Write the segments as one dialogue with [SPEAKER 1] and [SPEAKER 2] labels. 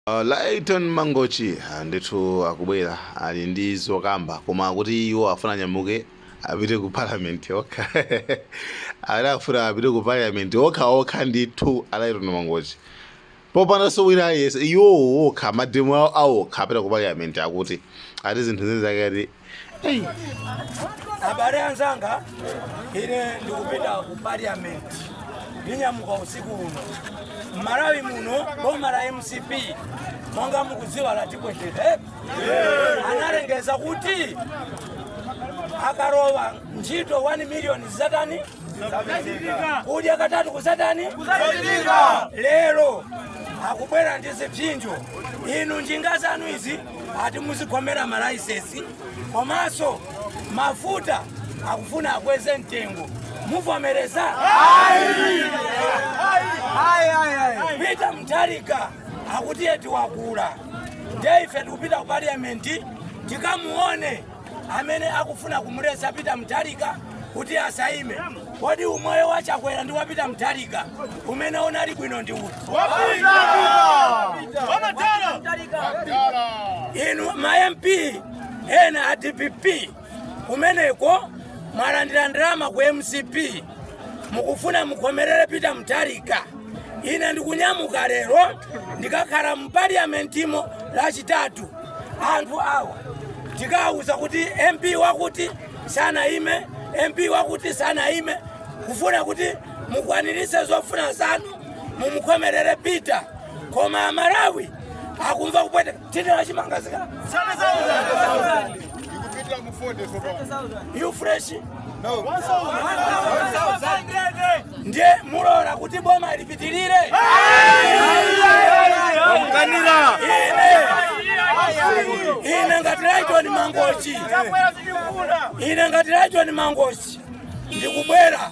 [SPEAKER 1] Lyton Mangochi ndithu akubwera ali ndi zokamba koma akuti iwo afuna anyamuke apite ku parliament okha ali afuna apite ku parliament okha okha ndithu a Lyton Mangochi popandanso wina aliyense iwo okha mademo awo okha apita ku parliament akuti ati zinthu zake ati
[SPEAKER 2] abale anzanga ine ndikupita ku parliament ndinyamuka usiku uno mmalawi muno boma la mcp monga mukudziwa latipweteka analengeza kuti akalowa ntchito 1 miliyoni zatani kudya katatu kuzatani lero akubwera ndi zipsinjo inu njinga zanu izi ati muzikhomera malaisesi komanso mafuta akufuna akweze mtengo muvomereza peter mutharika akuti eti wakula ndiye ife tikupita ku parliament tikamuone amene akufuna kumuletsa Peter Mutharika kuti asayime. Kodi umoyo wa Chakwera ndi wa Peter Mutharika umene unali bwino ndi uti? Inu ma MP ena a DPP kumeneko mwalandira ndalama ku MCP mukufuna mukhomerere peter mutharika ine ndikunyamuka lero ndikakhala mu paliamentimo lachitatu anthu awa tikawuza kuti mp wakuti sanayime mp wakuti sanayime kufuna kuti mukwanirise zofuna zanu mumukhomerere peter koma amalawi akumva kupweteka Tindera chimanga zikala. Ikupita mu 40 tsopano. U-Fresh now 1,100. Ndiye mulola kuti boma lipitirire. Kanira. Ine. Ine ngati Lyton Mangochi. Ine ngati Lyton Mangochi. Ndikubwera.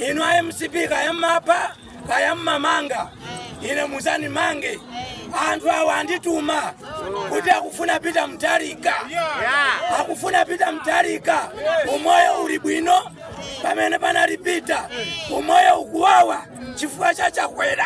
[SPEAKER 2] Inu a MCP kaya mmapha. kaya mmamanga ine muzandimange anthu awa andituma kuti akufuna peter mutharika akufuna peter mutharika umoyo uli bwino pamene panali peter umoyo ukuwawa chifukwa cha chakwera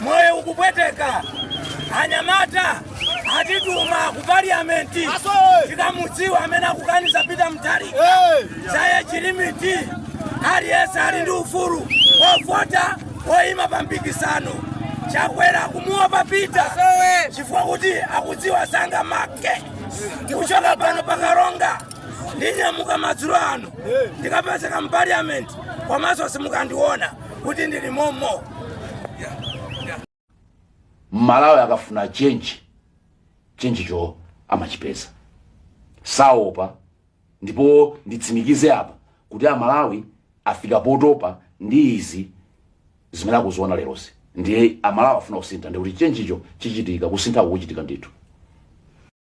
[SPEAKER 2] moyo ukupweteka anyamata atituma ku parliamenti tikamudziwa amene akukaniza peter mutharika za age limit aliyense ali ndi ufulu ovota oyima pa mpikisano chakwera kumuopa peter chifukwa kuti akudziwa sangamake kuchoka pano pa karonga ndinyamuka madzulo ano ndikapezeka mu parliament komanso simukandiona kuti ndili momo
[SPEAKER 3] mmalawi akafuna chenji chenjicho amachipeza saopa ndipo nditsimikize apa kuti amalawi afika potopa ndi izi zimene akuziona lerozi ndiye amalawi afuna kusintha ndikuti chenjicho chichitika kusintha kukuchitika ndithu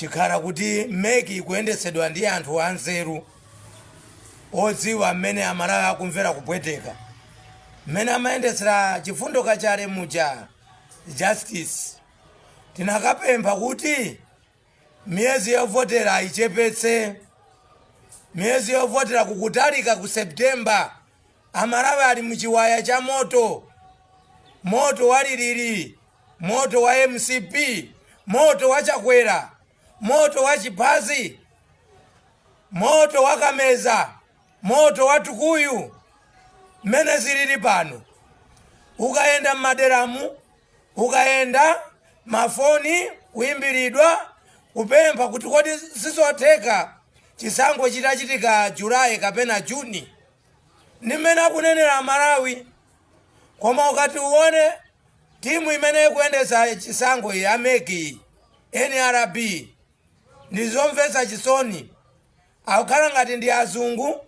[SPEAKER 2] chikhala kuti mec ikuyendetsedwa ndi anthu anzeru odziwa mmene amalawi akumvera kupweteka mmene amayendetsera chifundo kachale muja justice Tinakapempha kuti miyezi yovotera ayichepetse. Miyezi yovotera kukutalika ku September. Amalawi ali mu chiwaya cha moto. Moto wa lilili, moto wa mcp, moto wa Chakwera, moto wa Chiphazi, moto wa Kameza, moto wa Tukuyu. Mmene zilili pano, ukayenda m'maderamu Ukayenda, mafoni, kuimbilidwa, kupempha kuti kodi sizotheka chisankho chitachitika July kapena June. Ndi mmene akunenera a Malawi. Koma ukati uwone timu imene ikuyendetsa chisankho ya mec, nrb, ndi zomvetsa chisoni. Akukhala ngati ndi azungu,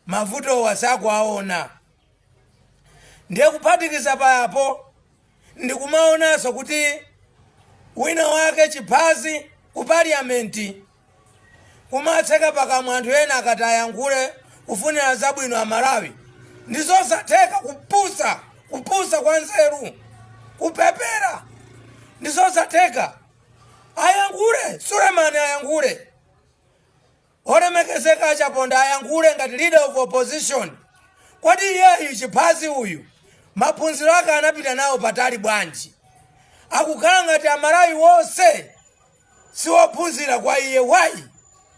[SPEAKER 2] mavutowa sakuwawona. Ndiye kuphatikiza pa apo, ndikumaonanso kuti wina wake chiphazi ku parliament kumatseka pakamwa anthu ena akati ayankhule kufunira zabwino a Malawi ndi zosatheka kupusa kupusa kwa nzeru kupepera ndi zosatheka ayankhule Suleman ayankhule Olemekezeka a Chaponda ayankhule ngati leader of opposition, kodi iyeyu chiphazi uyu maphunziro ake anapita nawo patali bwanji? Akukhala ngati amalawi wonse siwophunzira kwa iye why?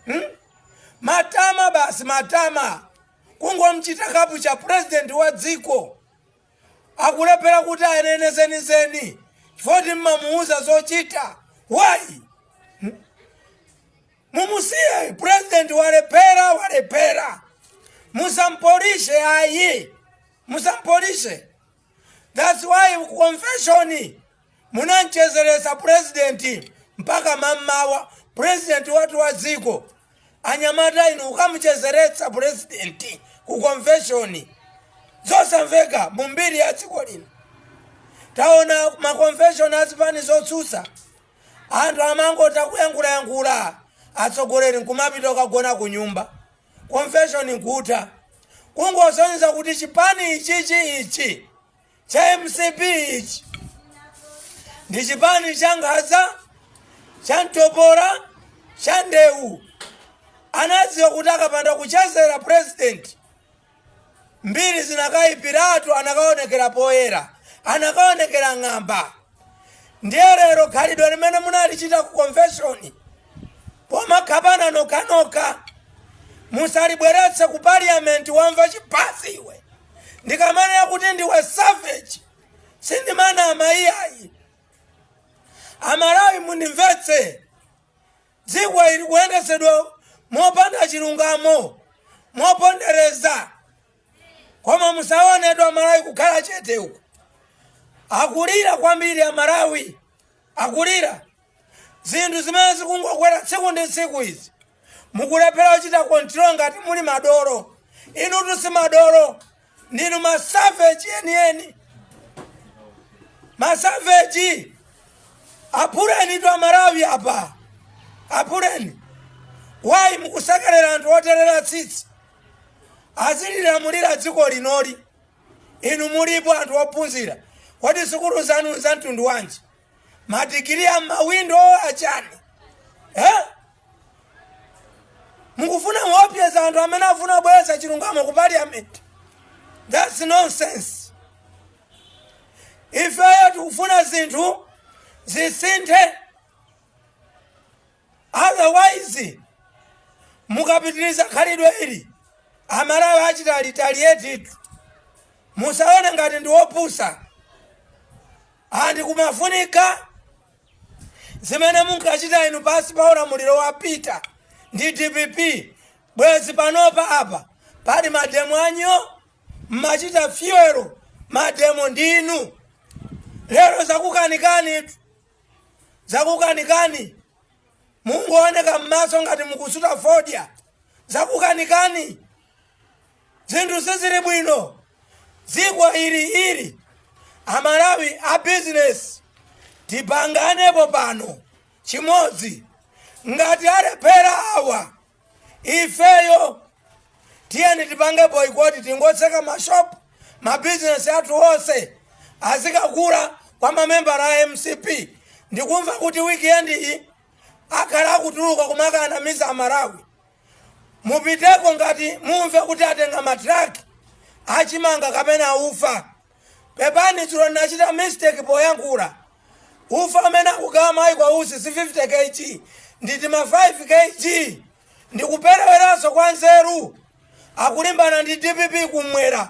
[SPEAKER 2] Hmm? Matama basi matama kungomchita kapucha president wa dziko akulephera kuti ayenene zenizeni chifukwa choti mmamuuza zochita why? mumusiye president walephera walephera musampolishe ayi musampolishe that's why ku convention munamchezeretsa president mpaka mammawa president watu wa dziko anyamata inu ukamuchezeretsa president ku convention zosamveka mumbiri ya dziko lino taona ma convention azipani zotsutsa Anthu amangotha kuyankhulayankhula atsogoleri nkumapita kukagona kunyumba convention nkutha. Kungosonyeza kuti chipani ichichi ichi cha mcp ichi ndi chipani cha nkhaza, cha mtopola, cha ndewu. Anadziwa kuti akapanda kuchezera president Mbiri zinakaipiratu anakaonekera poyera, anakaonekera ng'amba. Ndiye lero khalidwe limene munalichita ku convention pomakhapana nokhanokha musalibweretse ku parliament wamva chiphazi iwe ndikamanena kuti ndiwe savage sindimanama iyayi amalawi mundimvetse Dziko ili likuyendetsedwa mopanda chilungamo, mopondereza. Koma musaonetu amalawi kukhala chete uku. Akulira kwambiri amalawi. Akulira. Zinthu zimene zikungokwera tsiku ndi tsiku izi. Mukulephera kuchita control ngati muli madolo. Inutu si madolo. ndinu masaveji enieni masaveji aphulenitu amalawi apa aphuleni why mukusekerera anthu oterera tsitsi azililamulira dziko linoli inu mulipo anthu ophunzira kodi sukulu zanu za mtundu wanji madigiri a mmawindo achani eh? mukufuna kuopyeza anthu amene afuna kubweretsa chilungamo ku parliament thats nonsense ifeyo tikufuna zinthu zisinthe otherwise mukapitiliza khalidwe ili amalawi achitani retaliatetu musaone ngati ndi opusa andi kumafunika zimene munkachita inu pansi pa ulamuliro wa peter ndi dpp bwezi panopa apa pali mademo anyoo mmachita fuel mademo ndi inu lero zakukanikanitu zakukanikani mukuoneka m'maso ngati mukusuta fodya zakukanikani zinthu sizili bwino dziko ili ili amalawi a bizinesi tipanganepo pano chimodzi ngati alephera awa ifeyo tiyeni tipange boycott tingotseka mashopu mabizinesi athu onse azikagula kwa mamembala a mcp ndikumva kuti weekend iyi akhala akutuluka kumakanamiza amalawi mupiteko ngati mumve kuti atenga matraki achimanga kapena ufa Pepani dzulo ndinachita mistake poyankhula. Ufa amene akugawa Michael Usi si 50 kg ndi tima 5 kg. Ndikupereweranso kwa nzeru. Akulimbana ndi dpp kumwera.